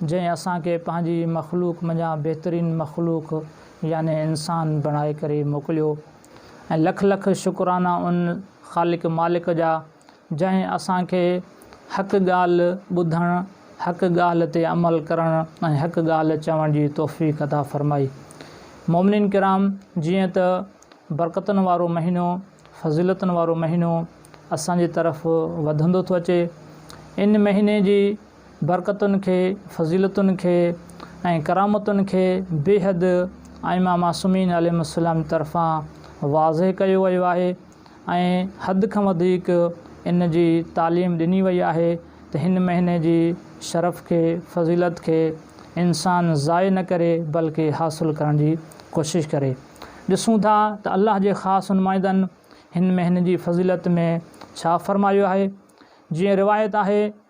جنهن اسان کي پنهنجي مخلوق منجهان بهترين مخلوق يعني انسان بڻائي ڪري موڪليو ۽ لک لک شڪرانا ان خالق مالڪ جا جنهن اسان کي حق ڳالهه ٻڌڻ، حق ڳالهه تي عمل ڪرڻ ۽ حق ڳالهه چوڻ جي توفيق عطا فرمائي. مؤمنين ڪرام جيئن ته برڪتن وارو مهينو، فضيلتن وارو مهينو اسان جي طرف وڌندو ٿو اچي، ان مهيني جي. برڪتن کي، فضيلتن کي ۽ ڪرامتن کي بيحد ائمه معصومين عليهم السلام طرفان واضح ڪيو ويو آهي ۽ حد کان وڌيڪ ان جي تعليم ڏني وئي آهي ته هن مهيني جي شرف کي، فضيلت کي انسان ضايع نه ڪري بلڪه حاصل ڪرڻ جي ڪوشش ڪري. ڏسون ٿا ته الله جي خاص نمائندن هن مهيني جي فضيلت ۾ ڇا فرمايو آهي. جيئن روايت آهي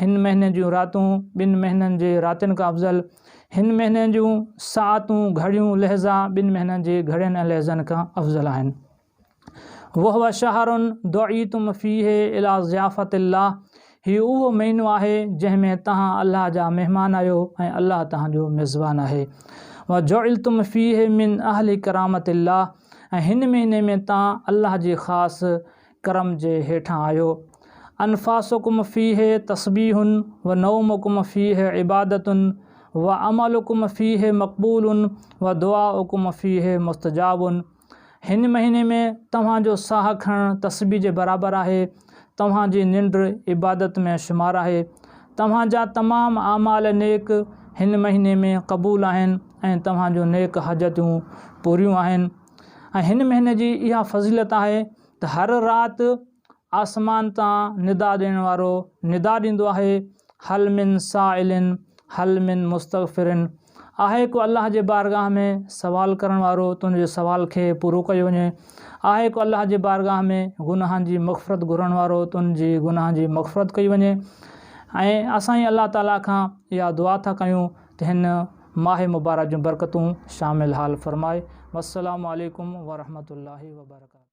هن مهيني جون راتون ٻن مهينن جي راتين کان افضل، هن مهيني جون ساعتون، گهڙيون، لحظا ٻن مهينن جي گهڙين ۽ لحظن کان افضل آهن. وهو شهر دعيتم فيه الي ضيافت الله، هي اهو مهينو آهي جنهن ۾ توهان الله جا مهمان آهيو ۽ الله توهان جو ميزبان آهي. وجعلتم فيه من اهل ڪرامت الله، ۽ هن مهيني ۾ توهان الله جي خاص ڪرم جي هيٺان آهيو. انفاسڪم فيه تسبيح و نومڪم فيه عبادة و عملڪم فيه مقبول و دعاءڪم فيه مستجاب هن مهيني ۾ توهان جو ساهه کڻڻ تسبيح جي برابر آهي، توهان جي ننڊ عبادت ۾ شمار آهي. توهان جا تمام اعمال نيڪ هن مهيني ۾ قبول آهن ۽ توهان جون نيڪ حاجتون پوريون آهن. ۽ هن مهيني جي اها فضيلت آهي ته هر رات آسمان تان ندا ڏيڻ وارو ندا ڏيندو آهي هل من سائل هل من مستغفر آهي ڪو الله جي بارگاهه ۾ سوال ڪرڻ وارو تنهنجي سوال کي پورو ڪيو وڃي آهي ڪو الله جي بارگاهه ۾ گناهن جي مغفرت گهرڻ وارو تنهنجي گناهن جي مغفرت ڪئي وڃي ۽ اسان ئي الله تعاليٰ کان اها دعا ٿا ڪيون ته هن ماهه مبارڪ جون برڪتون شامل حال فرمائي والسلام عليڪم ورحمة الله وبرڪاته.